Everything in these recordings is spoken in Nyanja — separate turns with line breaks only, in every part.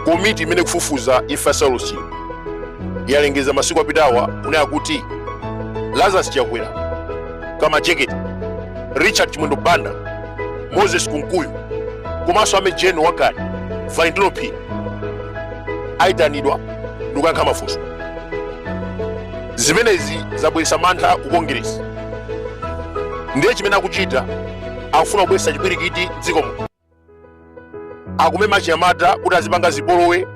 komiti imene ikufufuza imfa ya saulosi chilima yalengeza masiku apitawa kunena kuti lazarus chakwera kamajeketi richard chimwendo banda moses kunkuyu komanso a mejeni wakale valentino phiri ayitanidwa ndikuyankha mafunso zimenezi zabweretsa mantha ku kongeresi ndiye chimene akuchita akufuna kubweretsa chipwirikiti m'dziko muno akumema achinyamata kuti azipanga zipolowe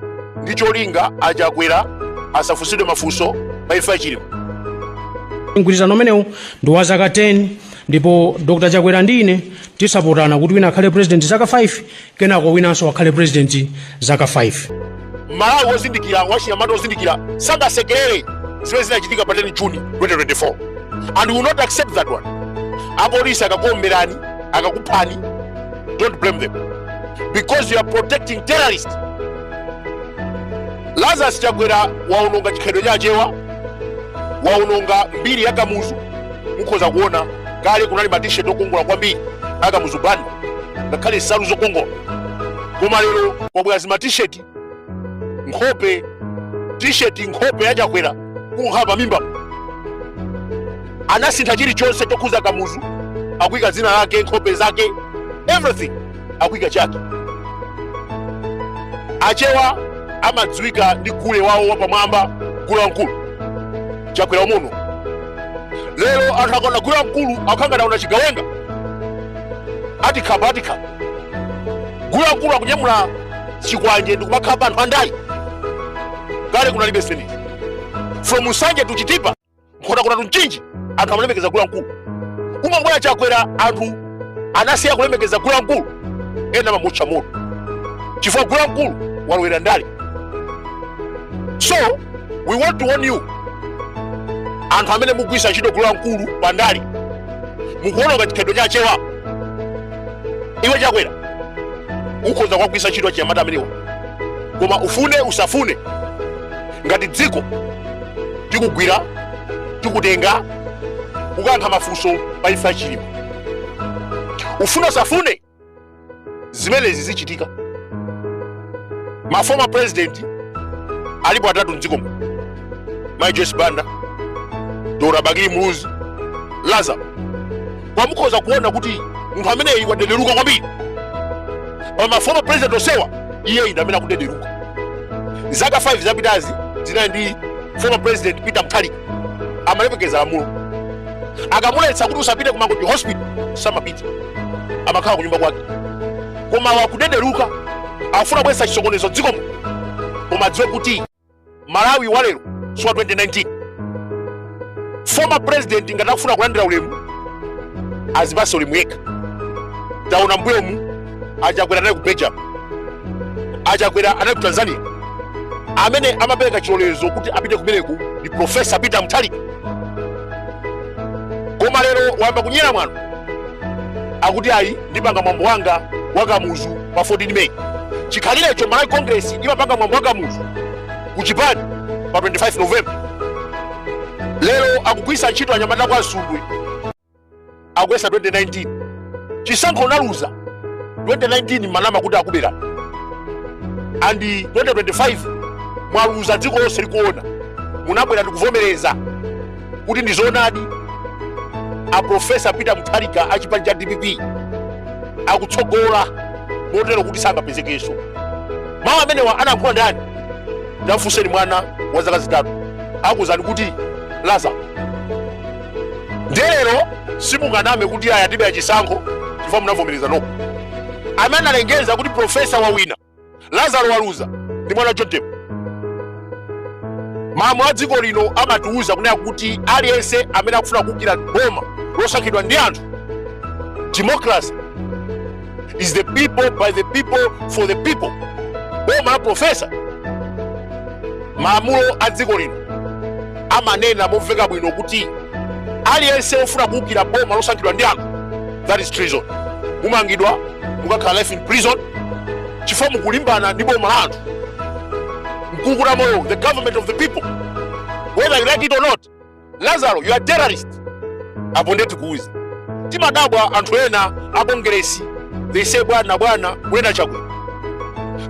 ndi cholinga achakwera asafunsidwe mafunso pa imfa ya
chilima mgwirizano umenewu ndi wa zaka 10 ndipo dr chakwera ndi ine tizapatsana kuti wina akhale president zaka 5 Kenako winanso akhale president zaka 5.
M'malawi wozindikira, wachinyamata wozindikira sangasekelere zimene zinachitika pa 10 June 2024 and we will not accept that one. Apolisi akakuomberani, akakuphani, don't blame them because you are protecting terrorists. Lazarus Chakwera waononga chikhalidwe cha Achewa, waononga mbiri ya Kamuzu. Mukhoza kuona kale kunali ma t-shirt okongola kwambiri a Kamuzu Banda. ngakhale nsalu zokongola koma lero kwabwera zima t-shirt nkhope t-shirt nkhope ya chakwera kukhala pa mimba anasintha chilichonse chokhuza kamuzu akuyika dzina lake nkhope zake everything akuyika chake achewa amadziwika ndi gule wawo wapamwamba gule wamkulu chakwera muno lero anthu akaona gule wamkulu akukhala ngati aona chigawenga atikhapa atikhapa gule wamkulu akunyamula chikwanje ndikumakhapa anthu andale kale kunalibe zimenezi from nsanje to chitipa nkhotakota to mchinji anthu amalemekeza gule wamkulu kungobwera chakwera anthu anasiya kulemekeza gule wamkulu ena amamutcha moto chifukwa gule wamkulu walowera ndale so we want to warn you anthu amene mukugwiritsa ntchito gule wamkulu pa ndale mukuononga chikhalidwe cha achewa iwe chakwera ukhoza kuwagwiritsa ntchito achinyamata amenewa koma ufune usafune ngati dziko tikugwira tikutenga kukayankha mafunso pa imfa ya chilima ufune usafune zimenezi zichitika ma former president alipo atatu mdziko muno mai joyce banda dr bakili muluzi lazarus koma mukhoza kuona kuti munthu ameneyi wadelereka kwambiri pa ma former president onsewa iyeyi ndi amene akudelereka zaka 5 zapitazi zinali ndi former president peter mutharika amalemekeza lamulo akamuletsa kuti usapite ku mangochi hospital samapita amakhala kunyumba kwake koma wakudederuka akufuna kubwetsa chisokonezo mdziko muno koma adziwe kuti malawi walero siwa 2019 former president ngati akufuna kulandira ulemu azipatse ulemu yekha taona mmbuyomu achakwera anali ku belgium achakwera anali ku tanzania amene amapereka chilolezo kuti apite kumeneku ndi profesa peter mutharika koma lero wayamba kunyera mwano akuti ayi ndipanga mwambo wanga wa kamuzu pa 14 meyi chikhalirecho malawi congress imapanga mwambo wa kamuzu ku chipani pa 25 novemba lero akugwiritsa ntchito anyamata kwa nsundwe akuyesa 2019 chisankho unaluza 2019 munanama kuti akuberani and 2025 mwaluza dziko lonse likuona munabwera ndikuvomereza kuti ndi zoonadi a profesa peter mutharika a chipani cha dpp akutsogola motero kuti sangapezekenso mawu amenewa anayankhula ndani tamfunseni mwana wa zaka zitatu akuuzani kuti laza ndiye lero simunganame kuti ayi atibera chisankho chifukwa munavomereza nokha amene analengeza kuti profesa wawina lazaro waluza ndi mwana john tembo malamulo a dziko lino amatiwuza kunena kuti aliyense amene akufuna kuukira boma losankhidwa ndi anthu democracy is the people by the people for the people boma la profesa malamulo a dziko lino amanena momveka bwino kuti aliyense wofuna kuukira boma losankhidwa ndi anthu that is treason mumangidwa mukakhala life in prison chifukwa mukulimbana ndi boma la anthu nkukuta moyo the government of the people whether you like it or not lazaro you are terrorist apo nde tikuuze timadabwa anthu ena a kongeresi they say bwana bwana kunena chakwera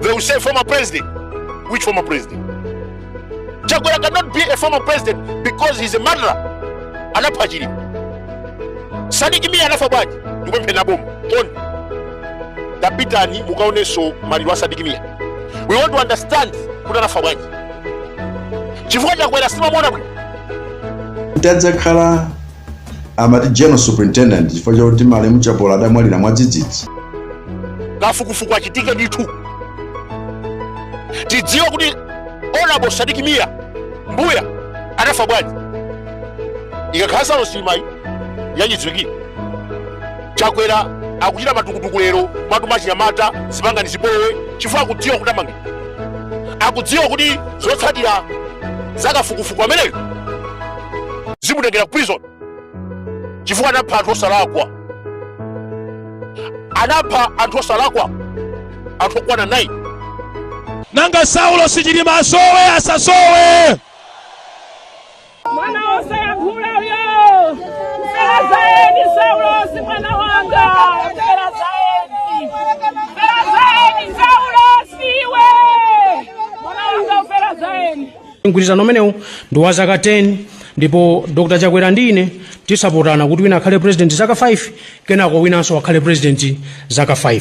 they will say former president which former president chakwera cannot be a former president because he's a murderer anapha chilima sadiki miya anafa bwanji ndikupempheni a boma oni tapitani mukaonenso maliro a sadiki miya we want to understand kuti anafa bwanji chifukwa chakwera sitimamuona bwino
adakhala amati general superintendent chifukwa chakuti malemu chapola adamwalira mwadzidzidzi
kafukufuku achitike ndithu tidziwe kuti honorable sadiki mia mbuya anafa bwanji ikakhala ya saulosi imene ija yachidziwikire chakwera akuchita matukutuku lero mwatuma achinyamata zipangani zipolowe chifukwa akudziwa kuti amange akudziwa kuti zotsatira za kafukufuku ameneyo zimutengera ku prison chifukwa anapha anthu osalakwa anapha anthu osalakwa anthu okwana 9 nanga
saulosi chilima asowe asasowe
mwana wosayankhula uyo wafera za eni saulosi mwana wanga wafera za eni wafera za eni saulosi iwe mwana wanga wafera za eni mgwirizano
umenewu ndi wa zaka 10 ndipo dr chakwera ndi ine tisapotane kuti wina akhale president zaka 5 kenako winanso akhale president zaka 5